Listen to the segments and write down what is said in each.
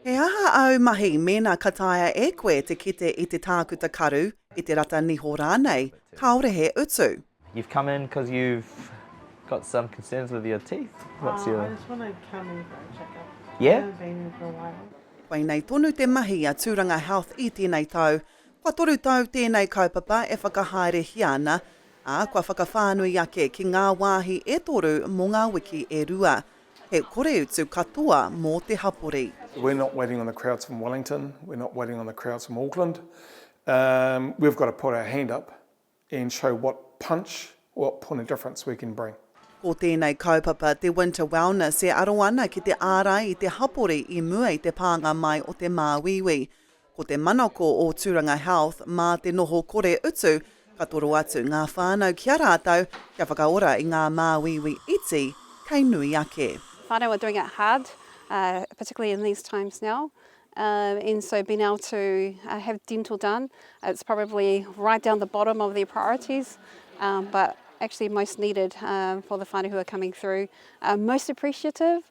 He aha āu mahi mēnā ka taea e koe te kite i te tākuta karu, i te rata niho rānei, kāore he utu? You've come in cos you've got some concerns with your teeth? What's your? I just want to come in for a check up. Yeah? I haven't been in for a while. Koinei tonu te mahi a Tūranga Health i tēnei tau. Kua toru tau tēnei kaupapa e whakahaerehia ana, ā, kua whakawhānui ake ki ngā wāhi e toru mō ngā wiki e rua. He koreutu katoa mō te hapori. We're not waiting on the crowds from Wellington, we're not waiting on the crowds from Auckland, we've got to put our hand up and show what punch, what point of difference we can bring. Ko tēnei kaupapa te Winter Wellness e aro ana ki te ārai i te hapori i mua i te pānga mai o te māuiui. Ko te manako o Tūranga Health mā te noho kore utu ka toro atu ngā whānau ki a rātou kia whakaora i ngā māuiui iti kei nui ake. Whānau are doing it hard, particularly in these times now, and so being able to have dental done, it's probably right down the bottom of their priorities, but actually most needed for the whānau who are coming through. Most appreciative.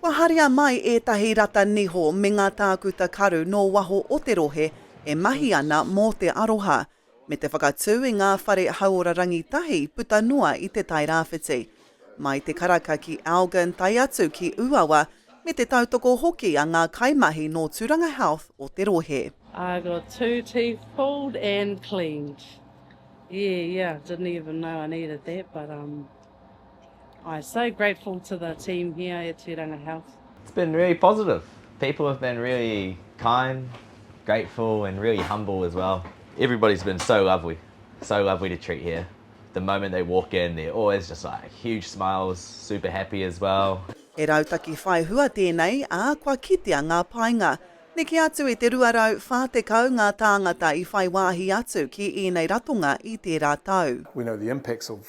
Kua haria mai ētahi rata niho me ngā tākuta karu nō waho o te rohe e mahi ana mō te aroha, me te whakatū i ngā whare hauora rangitahi puta noa i Te Tai Rāwhiti. Mai Te Karaka ki Elgin tae atu ki Ūawa, me te tautoko hoki a ngā kaimahi nō Tūranga Health o te rohe. I got two teeth pulled and cleaned. Yeah, yeah, didn't even know I needed that but um. I so grateful to the team here at Turanga Health. It's been really positive. People have been really kind, grateful and really humble as well. Everybody's been so lovely, so lovely to treat here. The moment they walk in they're always just like huge smiles, super happy as well. He rautaki whai hua tēnei, ā, kua kitea ngā painga. Neke atu i te 240 ngā tāngata i whai wāhi atu ki ēnei ratonga i tērā tau. We know the impacts of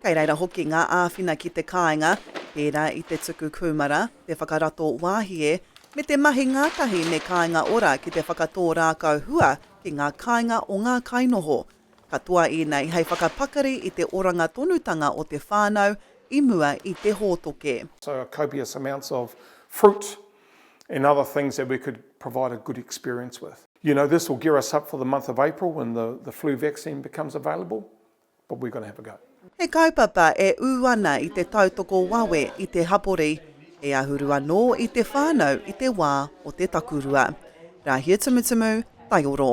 Kei reira hoki ngā āwhina ki te kāinga, pērā i te tuku kūmara, te whakarato wāhie, me te mahi ngātahi me Kāinga Ora ki te whakatō rākau hua ki ngā kāinga o ngā kainoho. Katoa ēnei hei whakapakari i te oranga tonutanga o te whānau i mua i te hōtoke. So a copious amounts of fruit and other things that we could provide a good experience with. You know, this will gear us up for the month of April when the the flu vaccine becomes available. but we're going to have a go. He kaupapa e ū ana i te tautoko wawe i te hapori, hei ahuru anō i te whānau i te wā o te takurua. Rāhia Tumutumu, Taioro.